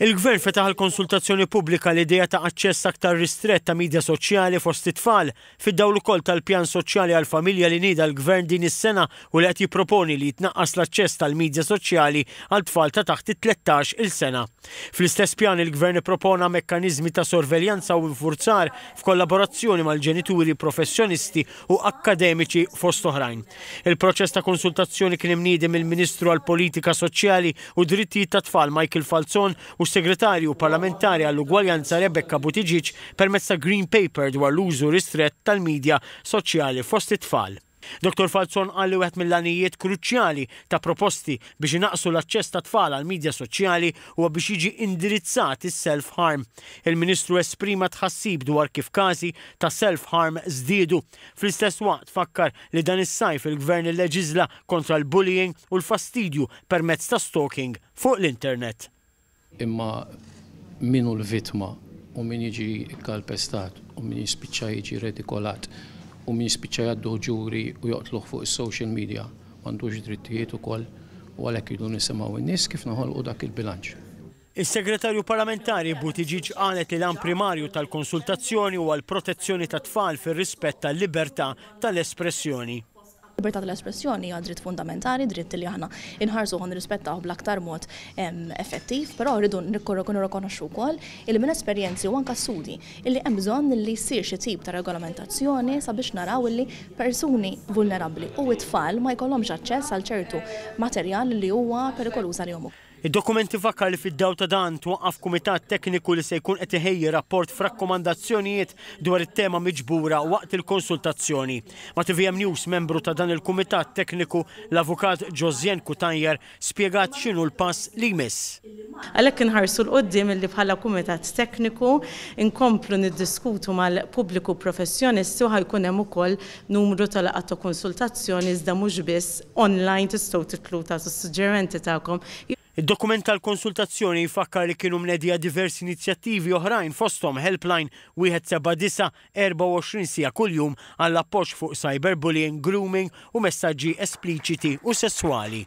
Il-Gvern fetaħ għal konsultazzjoni pubblika l-idea ta' aċċess aktar ristrett ta' midja soċjali fost it-tfal, fid-dawl ukoll tal-Pjan Soċjali għall-Familja li nieda l-Gvern din is-sena u li qed jipproponi li jitnaqqas l-aċċess tal-midja soċjali għal tfal ta' taħt it-tlettax il sena. Fl-istess pjan il-Gvern ippropona mekkaniżmi ta' sorveljanza u infurzar f'kollaborazzjoni mal-ġenituri professjonisti u akkademiċi fost oħrajn. Il-proċess ta' konsultazzjoni kien imniedi mill-Ministru għall-Politika Soċjali u Drittijiet tat-Tfal Michael Falzon u s-Segretarju Parlamentari għall-Ugwaljanza Rebecca Buttigieg permezz ta' Green Paper dwar l-użu ristrett tal-midja soċjali fost it-tfal. Dottor Falzon qal li wieħed mill-għanijiet kruċjali ta' proposti biex inaqqsu l-aċċess tat-tfal għall-midja soċjali huwa biex jiġi indirizzat is-self-harm. Il-Ministru esprima tħassib dwar kif każi ta' self-harm żdiedu. Fl-istess waqt fakkar li dan is-sajf il-Gvern illeġiżla kontra l-bullying u l-fastidju permezz ta' stalking fuq l-internet. Imma min hu l-vittma u min jiġi kkalpestat u min jispiċċa jiġi redikolat u min jispiċċa jgħadduh ġuri u joqtluh fuq is-social media m'għandux drittijiet ukoll u għalhekk irridu nisimgħu n-nies kif noħolqu dak il-bilanċ. Is-Segretarju Parlamentari Buttigieg qalet li l-għan primarju tal-konsultazzjoni huwa l-protezzjoni tat-tfal fir-rispett tal-libertà tal-espressjoni. Libertà tal-espressjoni hija dritt fundamentali, dritt li aħna nħarsuh u nirrispettawh bl-aktar mod effettiv, però rridu nirrikonoxxu wkoll illi minn esperjenzi u anke studji illi hemm bżonn illi ssir xi tip ta' regolamentazzjoni sabiex naraw illi persuni vulnerabbli u t-tfal ma jkollhomx aċċess għal ċertu materjal li huwa perikoluż għalihom ukoll. Id-dokumenti fakkar li fid-dawl ta' dan twaqqaf kumitat tekniku li se jkun qed iħejji rapport f'rakkomandazzjonijiet dwar it-tema miġbura waqt il-konsultazzjoni. Ma' tvm News membru ta' dan il-kumitat tekniku, l-Avukat Josiane Cutajar spjegat x'inhu l-pass li jmiss. Għalhekk inħarsu 'l quddiem illi bħala kumitat tekniku nkomplu niddiskutu mal-pubbliku professjonisti u ħa jkun hemm ukoll numru ta' laqgħat ta' konsultazzjoni iżda mhux biss, online tistgħu titlu tagħtu s-suġġerimenti tagħkom. Id-dokument tal-konsultazzjoni jfakkar li kienu mnedija diversi inizjattivi oħrajn fosthom helpline wieħed seba' disa' 24 siegħa kuljum għall-appoġġ fuq cyberbullying, grooming u messaġġi espliċiti u sesswali.